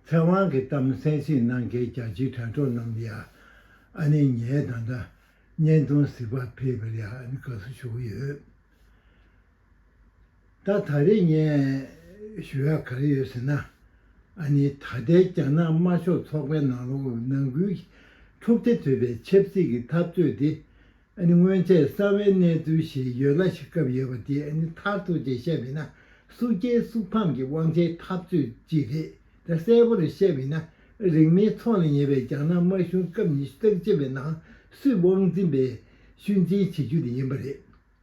ཚེ་དབང་གི་གཏམ་གསལ་བྱེད་གནང་མཁན་རྒྱ་ཆེའི་དྲ་གྲོགས་རྣམས་ཡ། ཨ་ནི་ངའི་ད་ལྟ་བརྙན་ཐུང་གཟིགས་པ་ཕེབས་པར་ཡ་ཨ་ནི་དགའ་བསུ་ཞུ་གི་ཡོད། ད་ད་རེས་བརྙན་ཞུ་ཡ་ག་རེ་ཡོད་ཟེར་ན། ཨ་ནི་ད་ལྟའི་རྒྱ་ནག་དམར་ཤོག་ཚོགས་པའི་ནང་ལོགས་ནང་ཁུལ་གྱི་འཁྲུག་རྩེ་དུད་པའི་ཆབ་སྲིད་ཀྱི་འཐབ་རྩོད་དེ་ཨ་ནི་སྔོན་ཆད་གསར་བའི་གནས་ཚུལ་ཞིག་ཡོད་ལ་ཤི་བཀབ་ཡོད་པ་དེ་ཨ་ནི་མཐར་ཐུག་ཅིག་བཤད་མིན་ན་སུག་རྐྱལ་སུག་ཕམ་གྱི་དབང་ཆའི་འཐབ་རྩོད་ཅིག་རེད་དེ་གསལ་བོར་བཤད་མིན་ན་རིག་མིའི་ཚོགས་ལ་ཉེ་བའི་རྒྱ་ནག་དམར་གཞུང་སྐབས་ཉི་ཤུ་རྩ་གཅིག་པའི་ནང་སུས་དབང་འཛིན་པའི་ཤུལ་འཛིན་བྱེད་རྒྱུ་དེ་ཡིན་པ་རེད།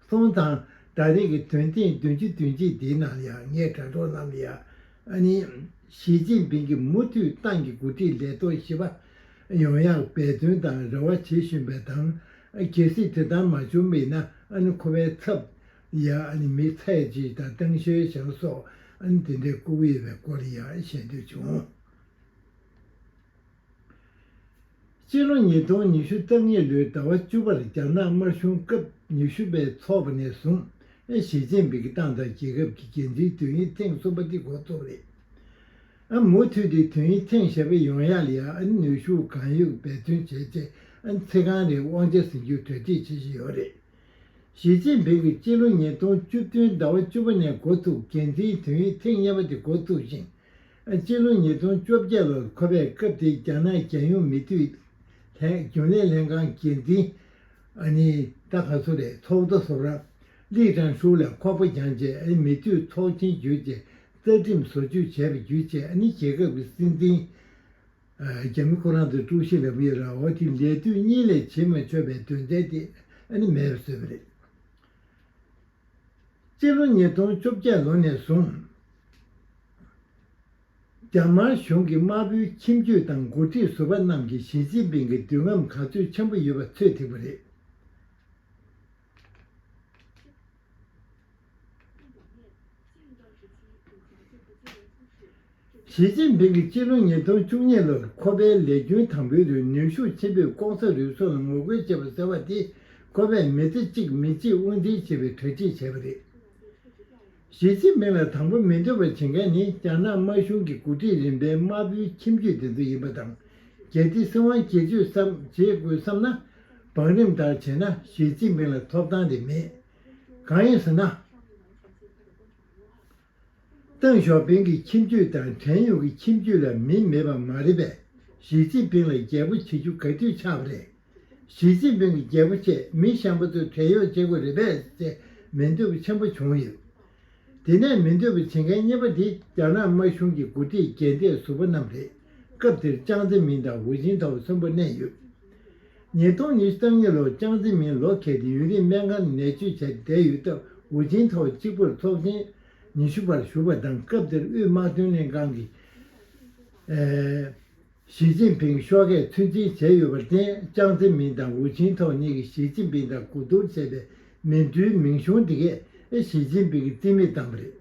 སོང་ཙང་ད་རེས་ཀྱི་དོན་ཐེངས་བདུན་ཅུ་བདུན་གཅིག་དེའི་ནང་ལ་ཡང་ངས་དྲ་གྲོགས་རྣམས་ལ་ཡང་ཨ་ནི། ཞི་ཅིན་ཕིང་གིས་མུ་མཐུད་ཏང་གི་འགོ་ཁྲིད་ལས་ཐོག་བཞི་པ་ཡོང་ཡག་འབད་བརྩོན་དང་རེ་བ་བྱེད་བཞིན་པའི་དང། གལ་སྲིད་དེ་ལྟར་མ་བྱུང་བས་ན་ཨ་ནི་ཁོ་པའི་ཚབ་ཡག་མི་ཚའེ་ཅི་དང་ཏེང་ཞོའེ་ཞང་སོགས་ཨ་ནི་དེ་འདྲའི་ལྐུགས་ཡོད་པའི་སྐོར་ཡང་བཤད་འདོད་བྱུང། སྤྱི་ལོ་ཉིས་སྟོང་ཉི་ཤུ་རྩ་གཉིས་ལོའི་ཟླ་བ་བཅུ་པར་རྒྱ་ནག་དམར་གཞུང་སྐབས་ཉི་ཤུ་པའི་ཚོགས་པ་ནས་བཟུང་ཞི་ཅིན་ཕིང་གི་ཏང་དང་རྒྱལ་ཁབ་ཀྱི་འགན་འཛིན་དོན་ཡིག་ཐེངས་གསུམ་པ་འདི་གོ་ཐོབ་རེད། ཨ་མུ་མཐུད་དེ་དོན་ཡིག་ཐེངས་ཞེ་པ་ཡོང་ཡ་ལ་ཡ་ཨན་ནུས་ཤུགས་གང་ཡོད་འབད་བརྩོན་བྱས་རྗེས་ཚེ་གང་རིང་དབང་ཆ་ཟིན་རྒྱུའི་གྲ་སྒྲིག་བྱེད་བཞིན་ཡོད་རེད། ཞི་ཅིན་ཕིང་གིས་སྤྱི་ལོ་ཉིས་སྟོང་བཅུ་བདུན་ཟླ་བ་བཅུ་པ་ནས་འགོ་ཚུགས་འགན་འཛིན་དོན་ཡིག་ཐེངས་གཉིས་པ་དེ་འགོ་བཙུགས་ཤིང། སྤྱི་ལོ་ཉིས་སྟོང་བཅོ་བརྒྱད་ལོར་ཁོ་པས་སྐབས་དེའི་རྒྱ་ནག་རྒྱལ་ཡོངས་མི་དུས་ལྷན་རྒྱུན་ལས་ལྷན་ཁང་གི་འཛིན་གྲྭ་ཁག་སུ་རེད་ཐོག་རྡོ་སོབ་རག་ལི་ཀྲང་ཧྲུའུ་ལ་ཁོག་པ་བརྒྱངས་རྗེས་མི་དུས་ཐོག་མཆན་བརྒྱུད་ཀྱི་རྩ་ཁྲིམས་བཟོ་བཅོས་བྱས་པ་བརྒྱུད་རྒྱལ་ཁབ་ཀྱི་སྲིད་འཛིན་རྒྱ་མི་ཁོ་རང་དང་ཀྲུའུ་ཞི་ལཱ་བྷི་རའོ་ཐི་ལས་དུས་གཉིས་ལས་བྱེད་མ་འཆོལ་བའི་དོན་ཚན་དེ་མེད་པར་བཟོས་པ་རེད། སྤྱི་ལོ་ཉིས་སྟོང་བཅོ་བརྒྱད་ལོ་ནས་བཟུང་རྒྱ་དམར་གཞུང་གིས་དམར་པོའི་ཁྱིམ་རྒྱུད་དང་འགོ་ཁྲིད་ཟུར་པ་རྣམས་ཀྱིས་ཞི་ཅིན་ཕིང་གི་འདུན་ལམ་ག་ཚོད་ཆེན་པོ་ཡོད་པ་ཚོད་ཐིག་པ་རེད། ཞི་ཅིན་ཕིང་གིས་སྤྱི་ལོ་ཉིས་སྟོང་བཅུ་གཉིས་ལོར་ཁོ་པའི་ལས་རྒྱུན་དང་པོའི་རིང་ནུས་ཤུགས་ཆེན་པོས་ཀོང་ས་རུས་ཚོགས་ལ་ངོ་རྒོལ་བྱེད་པ་ཟེར་བ་དེ་ཁོ་པས་མི་ཚེ་གཅིག་མི་གཅིག་དབུ་འཛིན་བྱེད་པའི་གྲ་སྒྲིག་བྱས་པ་རེད། ཞི་ཅིན་ཕིང་ལ་དང་པོ་མི་འདོད་པར་བྱེད་མཁན་ནི་རྒྱ་ནག་དམར་གཞུང་གི་འགོ་ཁྲིད་རིམ་པའི་དམར་པོའི་ཁྱིམ་རྒྱུད་དེ་ཚོ་ཡིན་པ་དང་གལ་ཏེ་སྲིད་དབང་བསྒྱུར་བཅོས་སམ་བྱེད་དགོས་བསམ་ན་བང་རིམ་ལྟར་བྱས་ན་ཞི་ཅིན་ཕིང་ལ་ཐོབ་ཐང་དེ་མེད། གང་ཡིན་ཟེར་ན། ཏེང་ཞའོ་ཕིང་གི་ཁྱིམ་རྒྱུད་དང་བྲན་གཡོག་གི་ཁྱིམ་རྒྱུད་ལ་མི་མེད་པ་མ་རེད་པས་ཞིས་ཅིན་ཕིང་ལ་རྒྱལ་པོ་བྱེད་རྒྱུ་ག་དུས་ཆགས་པ་རེད། ཞིས་ཅིན་ཕིང་གི་རྒྱལ་པོ་ཆེད་མི་གཤམ་པོ་ཚོས་བྲན་གཡོག་བྱེད་དགོས་རེད་པས་ཅེས་མི་འདོད་པ་ཆེན་པོ་བྱུང་ཡོད། དེ་ནས་མི་འདོད་པ་བྱེད་མཁན་གཉིས་པ་དེ་རྒྱ་ནག་དམར་གཞུང་གི་འགོ་ཁྲིད་རྒྱལ་གཏད་ཟུར་པ་རྣམས་རེད། སྐབས་དེར་ཅང་ཙེ་མིན་དང་ཧུའུ་ཅིན་ཐའོ་གསོན་པོ་གནས་ཡོད། ཉིས་སྟོང་ཉིས་བརྒྱ་རྩ་གཉིས་ལོར་ཅང་ཙེ་མིན་ལོ་ཁེ་སྡིང་ཡུན་རིང་སྨན་ཁང་ནས་ནད་བཅོས་བྱས་ཏེ་བསྡད་ཡོད་སྟབས་ཝུའུ་ཅིན་ཐའོ་གཅིག་པུར་ཚོགས་ཆེན་ཉི་ཤུ་པར་ཞུགས་པ་དང་སྐབས་དེར་དབུས་དམག་དོན་ལྷན་ཁང་གིས། ཞི་ཅིན་ཕིང་ཤོག་ཁས་ཚུལ་འཆེན་བྱས་ཡོད་པར་བརྟེན་ཅང་ཙེ་མིན་དང་ཝུའུ་ཅིན་ཐའོ་གཉིས་ཀྱིས་ཞི་ཅིན་ཕིང་དང་གོ་བསྡུར་བྱས་པའི་མིན་ཏུའུ་མིང་གཞུང་དེ་གས་ཞི་ཅིན་ཕིང་གིས་རྩིས་མེད་བཏང་བ་རེད།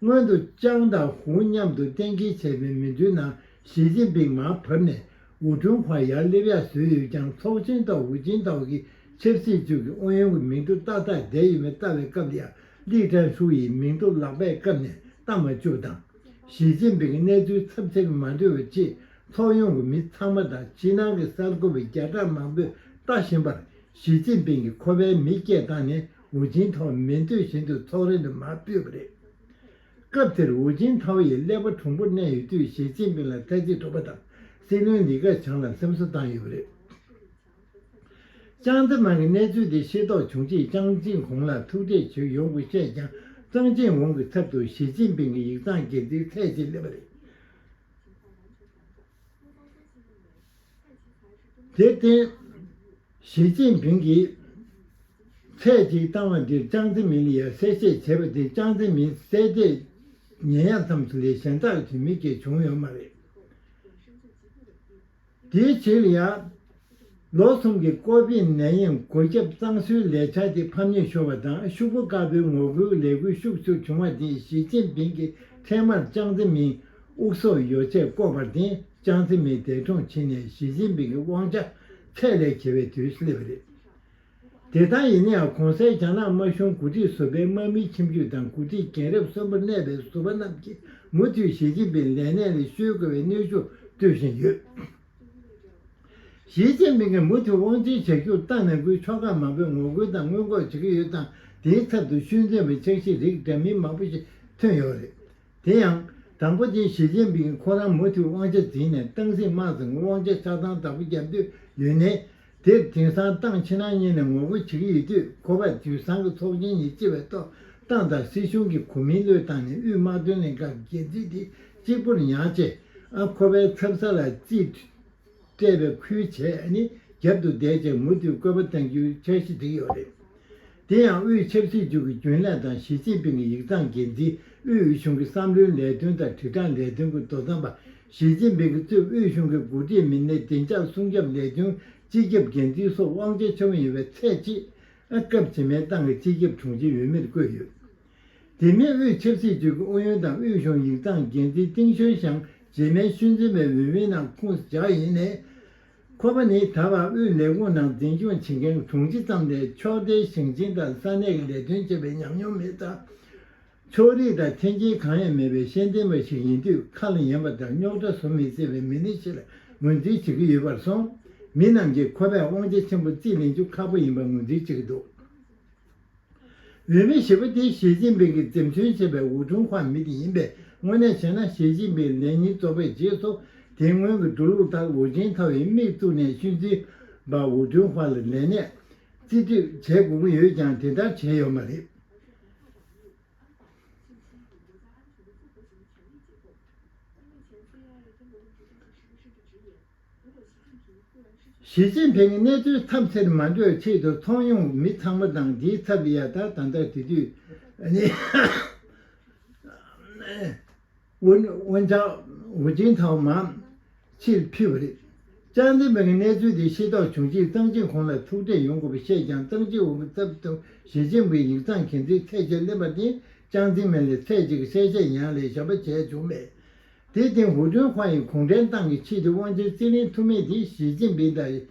སྔོན་དུ་ཅང་དང་ཧུའུ་མཉམ་དུ་གཏན་འཁེལ་བྱས་པའི་མིན་ཏུའུ་ནང་ཞི་ཅིན་ཕིང་མར་བབས་ནས་འོ་དྲུང་བར་ཡར་སླེབས་ཡ་བཟོས་ཡོད་ཀྱང་ཚོགས་ཆེན་དང་འོས་ཆེན་དག་གི་ཆབ་སྲིད་ཅུས་ཀྱི་ཨུ་ཡོན་གྱི་མིང་ཐོ་ཏག་ཏག་བསྡད་ཡོད་མེད་བལྟ་བའི་སྐབས་ལ་ཡང་ལིག་ཀྲན་ཧྲུའུ་ཡི་མིང་ཐོ་ལག་པས་བཀབ་ནས་བལྟ་མ་བཅུག་དང། ཞི་ཅིན་ཕིང་གི་གནས་ཚུལ་ཚབས་ཆེར་མ་འདྲི་བར་ཆེས་ཚོགས་ཡོངས་ཀྱི་མི་ཚང་མ་དང་ཕྱི་ནང་གི་གསར་འགོད་པ་བརྒྱ་ཕྲག་མང་པོས་ལྟ་བཞིན་པར་ཞི་ཅིན་ཕིང་གིས་ཁོ་པའི་མི་བསྐྱེད་བཏང་ནས་འོས་ཆེན་ཐོག་མི་འདོད་བཞིན་དུ་ཚོགས་ར་ནས་མར་བུད་པ་རེད། སྐབས་དེར་ཝུའུ་ཅིན་ཐའོ་ཡིས་ཀླད་པ་གྲུང་པོར་གནས་ཡོད་དུས་ཞི་ཅིན་ཕིང་ལ་བཀའ་སྤྱི་ཐུབ་པ་དང་སྲིད་བློན་ལི་ཁ་བྱང་ལ་སེམས་གསོ་བཏང་ཡོད་པ་རེད། ཅང་ཙེ་མཱིང་གིས་གནས་ཚུལ་དེ་ཤེས་རྟོགས་བྱུང་རྗེས་ཅང་ཅིན་གོང་ལ་ཐུག་འཕྲད་བྱེད་ཡོང་སྐོར་བཤད་ཀྱང་ཙང་ཅིན་ཝུང་གི་ཚབ་ཏུ་ཞི་ཅིན་ཕིང་གི་ཡིག་ཚང་སྒེར་རྩིས་ཚད་ཆེར་སླེབས་པ་རེད། དེར་བརྟེན། ཞི་ཅིན་ཕིང་གིས་ཚད་ཅིག་བཏང་བ་འདིར་ཅང་ཙེ་མིན་ལི་ཡར་གསལ་བཤད་བྱས་པ་དེ་ཅང་ཙེ་མིན་བསད་རྗེས་ཉེ་ཡར་མཚམས་སུ་ལི་གཞན་དག་གིས་མི་སྐྱེ་བྱུང་ཡོད་མ་རེད། དེའི་ཕྱིར་ལི་ཡར་ལོ་གསུམ་གྱི་ཀོ་བི་ནད་ཡམས་འགོས་ཁྱབ་གཙང་བཟོའི་ལས་འཆར་དེ་ཕམ་ཉེས་ཤོར་བ་དང་ཤུག་པོ་དཀར་པོའི་ངོ་རྒོལ་ལས་འགུལ་ཤུགས་ཆུར་བྱུང་བ་དེས་ཞི་ཅིན་ཕིང་གི་འཕྲལ་མར་ཅང་ཙེ་མིན་དབུགས་སོགས་ཡོ་བྱད་བརྐོས་པར་བརྟེན་ཅང་ཙེ་མིན་འདས་གྲོངས་ཕྱིན་ནས་ཞི་ཅིན་ཕིང་གི་དབང་ཆ་ཚད་ལས་བྱེ་བའི་དུས་སུ་སླེབས་པ་རེད། དེ་ལྟར་ཡིན་ན་ཡང་གོང་གསལ་རྒྱ་ནག་དམར་གཞུང་གོ་སྒྲིག་བཟོ་པའི་དམག་མིའི་ཁྱིམ་རྒྱུད་དང་གོ་སྒྲིག་རྒན་རབས་གསོན་པོར་གནས་པའི་བཟོ་པ་རྣམས་ཀྱིས་མུ་མཐུད་ཞི་ཅིན་ཕིང་ལས་གནས་ལས་བཤོལ་དགོས་པའི་གནོན་ཤུགས་སྤྲོད་བཞིན་ཡོད། ཞི་ཅིན་ཕིང་གིས་མུ་མཐུད་དབང་འཛིན་བྱ་རྒྱུར་ཏང་ནང་ཁུལ་ཕྱོགས་ཁག་མང་པོས་ངོ་རྒོལ་དང་སྔོན་འགོག་བྱེད་ཀྱི་ཡོད་ཙང་དེའི་ཚབ་ཏུ་ཤུལ་འཛིན་པའི་འཆར་གཞི་རིགས་འདྲ་མིན་མང་པོ་ཞིག་ཐོན་ཡོད་རེད། དེ་ཡང། དང་པོ་ཆེན་ཞི་ཅིན་ཕིང་ཁོ་རང་མུ་མཐུད་དབང་ཆ་འཛིན་ནས་ཏང་སྲིད་དམག་ཟིང་གི་དབང་ཆ་ཆགས་སྡང་དྲག་པོ་བརྒྱབ་འདོད་ཡོད་ནའི། དེར་དེང་སང་ཏང་ཕྱི་ནང་གཉིས་ནས་ངོ་རྒོལ་བྱེད་ཀྱི་ཡོད་དུས་ཁོ་པས་དུས་བཟང་གི་ཚོགས་ཆེན་ཉིན་གཅིག་པའི་ཐོག་ཏང་དང་སྲིད་གཞུང་གི་གོ་མིང་བློས་བཏང་ནས་དབུས་དམག་དོན་ལས་ཁང་གི་འགན་འཛིན་དེ་གཅིག་པུར་མྱངས་རྗེས། ཁོ་པའི་འཚེམ་ས་ལ་བརྩིས། སྤྲད་པའི་ཁུལ་བྱས་ནས་རྒྱབ་ཏུ་བསྡད་ཅེས་མུ་མཐུད་བཀོད་པ་བསྟན་རྒྱུའི་འཆར་གཞི་བསྒྲིགས་ཡོད་པ་རེད། དེ་ཡང་དབུས་ཆབ་སྲིད་ཅུའུ་གི་རྒྱུན་ལས་དང་ཞི་ཅིན་ཕིང་གི་ཡིག་ཚང་འགན་འཛིན་དབུས་དབུས་གཞུང་གི་བསམ་བློའི་ལས་དོན་དང་དྲིལ་བསྒྲགས་ལས་དོན་གྱི་དོ་དམ་པ་ཞི་ཅིན་ཕིང་གི་གཙོས་དབུས་གཞུང་གི་འགོ་ཁྲིད་མི་སྣའི་བདེ་འཇགས་སྲུང་སྐྱོབ་ལས་དོན་སྤྱི་ཁྱབ་འགན་འཛིན་སོགས་དབང་ཆ་ཆེན་མོ་ཡིན་པའི་ཚད་ཅེས། སྐབས་རྗེས་མའི་ཏང་གི་སྤྱི་ཁྱབ་དྲུང་ཆེ་ཡུས་མེར་བཀོད་ཡོད། དེ་མིན་དབུས་ཆབ་སྲིད་ཅུས་ཀྱི་ཨུ་ཡོན་དང་དབུས་གཞུང་ཡིག་ཚང་འགན་འཛིན་ཏིང་ཞོན་ཞང་རྗེས་མའི་ཤུལ་འཛིན་པའི་འོས་མི་རྣམས་ཁུངས་བཅག་ཡིན་ནས། ཁོ་པ་ནི་ད་བར་དབུས་ལས་ཁུངས་ནང་འཛིན་སྐྱོང་བྱེད་མཁན་དྲུང་ཆེ་ཙམ་ལས་ཕྱོགས་མཐའི་ཞིང་ཆེན་དང་ས་གནས་ཀྱི་ལས་དོན་བྱས་པའི་ཉམས་མྱོང་མེད་ཙང། ཕྱོགས་རིས་དང་འཐེན་འཁྱེར་གང་ཡང་མེད་པའི་ཤེས་ལྡན་པ་ཞིག་ཡིན་དུས་ཁ་ལ་ཉན་པ་དང་རྙོག་དྲ་བཟོ་མི་སྲིད་པའི་མི་སྣ་ཞིག་ལ་ངོས་འཛིན་བྱེད་ཀྱི་ཡོད་པར་སོང་མི་རྣམས་ཀྱིས་ཁོ་པས་དབང་ཆ་ཆེན་པོ་རྩིས་ལེན་རྒྱུ་ཁག་པོ་ཡིན་པར་ངོས་འཛིན་བྱེད་ཀྱི་འདུག། འོས་མི་ཞེས་པ་དེ་ཞི་ཅིན་ཕིང་གིས་འཛེམས་ཟོན་བྱས་པའི་འུ་ཐུང་ཁང་མི་དེ་ཡིན་པས་དངོས་གནས་བྱས་ན་ཞི་ཅིན་ཕིང་ལས་ཉིན་རྫོགས་པའི་རྗེས་སུ་དེ་སྔོན་གྱི་འགྲོ་ལུགས་ལྟར་ཝུ་ཅན་ཐའོ་ཡི་དམིགས་བཙུགས་ནས་ཤུལ་འཛིན་པ་འུ་ཐུང་ཁང་ལ་ལས་གནས་རྩིས་སྤྲོད་བྱེད་དགོས་ཀྱི་ཡོད་ཀྱང་དེ་ལྟར་བྱས་ཡོད་མ་རེད། ཞི་ཅིན་ཕེང་གིས་གནས་ཚུལ་ཐབས་འཚེར་མ་འགྲོ་བའི་ཆེད་དུ་ཚོང་ཡོང་མི་ཚང་མ་དང་འདིའི་ཚབ་ལི་ཡ་དང་ད་ལྟ་དེ་དུས་ཝུན་ཅང་ཝུའུ་ཅིན་ཐའོ་མ་ཕྱིར་ཕུད་པ་རེད། ཅང་ཙེ་མིང་གིས་གནས་ཚུལ་དེ་ཤེས་རྟོགས་བྱུང་རྗེས་ཙང་ཅིན་ཁོང་ལ་ཐུག་འཕྲད་ཡོང་དགོས་པ་བཤད་ཀྱང་ཙང་ཅིན་ཝུའུ་གི་ཚབ་ཏུ་ཞི་ཅིན་ཕིང་ཡིག་ཚང་གན་དྷིའི་ཚད་གཞིར་གླེང་བ་དེས་ཅང་ཙེ་མིང་ལ་ཚད་གཅིག་གི་གསལ་བཤད་ཡང་ལས་གཞན་པ་བྱས་བྱུང་མེད། དེའི་སྟེང་ཧུའུ་ཅུན་ཧྥ་ཡིས་གུང་ཁྲན་ཏང་གི་ཆེས་མཐོའི་དབང་ཆའི་རྩིས་ལེན་ཐུབ་མིན་དེ་ཞི་ཅིན་ཕིང་དང་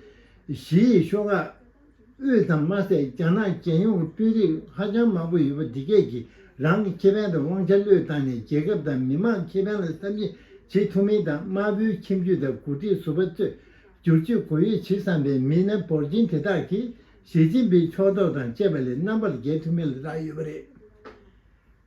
ཞི་ཡི་ཤོག་ཁག་དབུས་ཙམ་མ་ཟད་རྒྱ་ནག་རྒྱལ་ཡོངས་ཀྱི་དཔོན་རིགས་ཧ་ཅང་མང་པོ་ཡོད་པ་འདི་སྐད་ཀྱིས་རང་གི་ཁེ་ཕན་དང་དབང་ཆ་བློས་བཏང་ནས་རྒྱལ་ཁབ་དང་མི་དམངས་ཁེ་ཕན་ལ་བསམ་གཞིག་བྱེད་ཐུབ་མིན་དང་དམར་པོའི་ཁྱིམ་རྒྱུད་དང་འགོ་ཁྲིད་ཟུར་པ་གཙོས་བསྒྱུར་བཅོས་གོ་ཡོད་བྱེད་བསམ་པའི་མི་སྣ་འབོར་ཆེན་དེ་དག་གིས་ཞི་ཅིན་ཕིང་ཕྱོགས་གཏོགས་དང་བཅས་པ་ལས་རྣམ་པར་རྒྱལ་ཐུབ་མིན་ལ་བསྒྲགས་ཡོད་པ་རེད།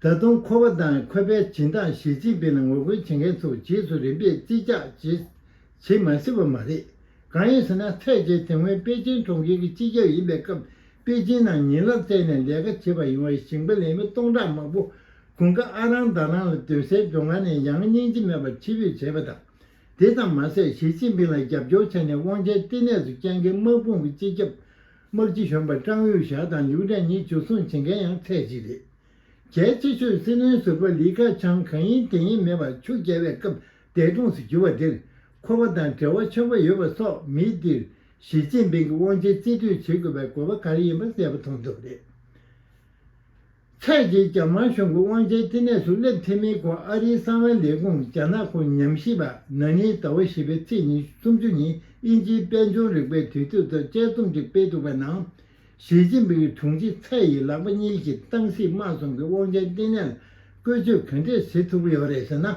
ད་དུང་ཁོ་བ་དང་ཁོ་པའི་བྱིན་བདག་ཞིས་ཅིན་ཕིན་ལ་ངོ་རྒོལ་བྱེད་མཁན་ཚོ་རྗེས་སུ་རིམ་པས་རྩིས་རྒྱག་བྱེད་བྱེད་མ་སྲིད་པ་མ་རེད། གང་ཡིན་ཟེར་ན་ཚད་བརྒྱད་དེ་སྔོན་པེ་ཅིན་གྲོང་ཁྱེར་གྱི་སྤྱི་ཁྱབ་ཡིན་པའི་སྐབས་པེ་ཅིན་ནང་ཉིན་རླབས་བཙལ་ནས་ལས་ཀ་བྱེད་པར་ཡོང་བའི་ཞིང་པ་ལས་མི་སྟོང་ཕྲག་མང་པོ་དགུན་ཁ་ཨ་རང་ཟླ་རང་ལ་སྡོད་སའི་སྒྲོ་མཁར་ནས་ཡང་སྙིང་རྗེ་མེད་པར་ཕྱིར་འབུད་བྱས་པ་དང། དེ་ཙམ་མ་ཟད་ཞི་ཅིན་ཕིང་ལ་རྒྱབ་སྐྱོར་བྱས་ནས་དབང་ཆའི་བསྟི་གནས་སུ་བསྐྱངས་མཁན་དམག་དཔུང་གི་སྤྱི་ཁྱབ་དམག་སྤྱི་གཞོན་པ་ཀྲང་དབྱུས་ཞའོ་དང་ལིའུ་ཀྲང་ཉིས་བྱུས་སྲུང་བྱེད་མཁན་ཡང་ཚད་གཅིག་རེད། གལ་ཆེ་ཤོས་སྲིད་བློན་ཟུར་པ་ལི་ཁ་ཆང་གང་ཡིན་དེ་ཡིན་མེད་པ་ཆུ་རྐྱལ་བའི་སྐབས་འདས་གྲོངས་སུ་གྱུར་པ་འདིར་ཁོ་པ་དང་འབྲེལ་བ་ཆེན་པོ་ཡོད་པ་སོགས་མི་འདིར་ཞི་ཅིན་ཕིང་གི་དབང་ཆའི་རྩིས་སྤྲོད་བྱེད་དགོས་པའི་དགོས་པ་ག་རེ་ཡིན་པ་གསལ་པོ་མཐོང་ཐུབ་པ་རེད། ཚད་བརྒལ་རྒྱ་དམར་གཞུང་གི་དབང་ཆའི་བསྟི་གནས་སུ་སླེབས་ཐེངས་མིན་སྐོར་ཨ་རིའི་གསང་བའི་ལས་ཁུངས་རྒྱ་ནག་ཁོ་ཉམས་ཞིབ་པ་ན་ནིའི་ཟླ་བ་བཞི་པའི་ཚེས་ཉིན་སུམ་ཅུ་ཉིན་དབྱིན་ཇིའི་དཔལ་འབྱོར་རིག་པའི་དུས་ཚོད་ཐོག་དཔྱད་རྩོམ་ཅིག་སྤེལ་འདུག་པའི་ནང། ཞི་ཅིན་ཕིང་གི་དྲུང་ཆེ་ཚའེ་ཡི་ལག་པ་གཉིས་ཀྱིས་ཏང་སྲིད་དམག་གསུམ་གྱི་དབང་ཆའི་བསྟི་གནས་ལ་བཀོལ་སྤྱོད་ག་འདྲས་བྱེད་ཐུབ་ཀྱི་ཡོད་རེད་ཟེར་ན།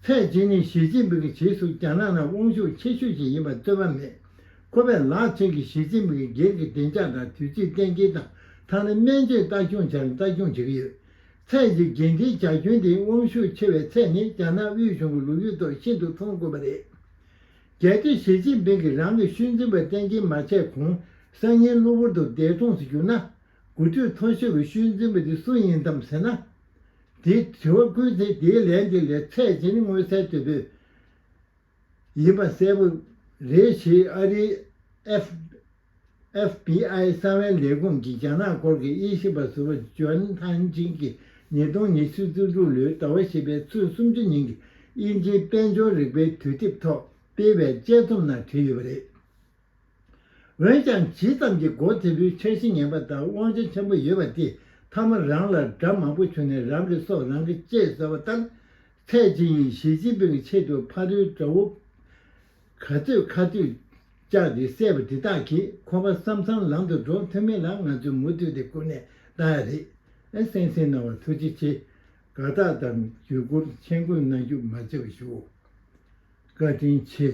ཚད་བརྒལ་ནི་ཞི་ཅིན་ཕིང་གི་བྱེད་སྲོལ་རྒྱ་ནག་ནང་དབང་ཤུགས་ཆེ་ཤོས་ཤིག་ཡིན་པར་རྩོད་པ་མེད། ཁོ་པས་ལག་མཚོན་གྱིས་ཞི་ཅིན་ཕིང་གི་སྒེར་གྱི་བདེ་འཇགས་དང་དུས་ཚིགས་གཏན་འཁེལ་དང་ཐག་ནི་སྨན་བཅོས་ལྟ་སྐྱོང་བྱ་རིང་ལྟ་སྐྱོང་བྱེད་ཀྱི་ཡོད། ཚད་གཞི་འགན་འཁྲིའི་བྱ་ཁྱོན་དེ་དབང་ཤུགས་ཆེ་བའི་ཚད་ནི་རྒྱ་ནག་དབུས་གཞུང་གི་ལོ་རྒྱུས་ཐོག་ཤིན་ཏུ་མཐོང་དཀོན་པ་རེད། གལ་ཏེ་ཞི་ཅིན་ཕིང་གིས་རང་གི་ཤུལ་འཛིན་པ་གཏན་འཁེལ་མ་བྱས་གོང་སང་ཉིན་གློ་བུར་དུ་འདས་གྲོངས་སུ་གྱུར་ན། དགུ་ཐོད་མཐོ་ཤོས་ཀྱི་ཤུལ་འཛིན་པ་དེ་སུ་ཡིན་དམ་ཟེར་ན། དེའི་དྲི་བ་བསྐུལ་ཚེ་དེའི་ལན་དེ་ལས་ཚད་གཞི་ནི་མངོན་གསལ་དོད་པོས། ཡིན་པ་གསལ་པོ་རེད་ཞེས་ཨ་རིའི་ཨེཕ། FBI། གསང་བའི་ལས་ཁུངས་ཀྱི་རྒྱ་ནག་སྐོར་གྱི་དབྱེ་ཞིབ་པ་ཟུར་བ་ཇོན་ཐང་ཅིན་གྱིས་ཉིས་སྟོང་ཉི་ཤུ་བཅུ་དྲུག་ལོའི་ཟླ་བ་བཞི་པའི་ཚོུད་སུམ་ཅུ་ཉིན་གྱི་དབྱིན་ཇིའི་དཔལ་འབྱོར་རིག་པའི་དུས་དེབ་ཐོག་སྤེལ་བའི་དཔྱད་རྩོམ་ནང་བྲིས་ཡོད་པ་རེད། འོན་ཀྱང་ཇི་ཙམ་གྱིས་སྒོ་དེ་ཚོའི་འཆར་གཞི་ངན་པ་དང་དབང་ཆ་ཆེན་པོ་ཡོད་པ་དེ་མཐའ་མ་རང་ལ་དགྲ་མང་པོ་བྱུང་ནས་རང་གི་སྲོག་རང་གིས་བཅད་ཟེར་བ་ལྟར། ཚད་ཅིང་ཡིན་ཞི་ཅིན་ཕིང་གི་ཆེད་དུ་ཕ་རོལ་དགྲ་བོ་ག་ཚོད་ཁ་ཐུད་བཅག་སྟེ་བསད་པ་དེ་དག་གིས་ཁོ་པ་བསམ་བསམ་ལམ་དུ་འགྲོ་ཐུབ་མིན་ལ་ང་ཚོས་མུ་མཐུད་དེ་ཀུན་ནས་བལྟ་ཡ་རེད། གསན་གསན་གནང་བར་ཐུགས་རྗེ་ཆེ། དགའ་རྟགས་དང་བརྒྱུད་སྐུར་མཆན་བཀོད་གནང་རྒྱུ་མ་བརྗེད་པ་ཞུའོ། བཀའ་དྲིན་ཆེ།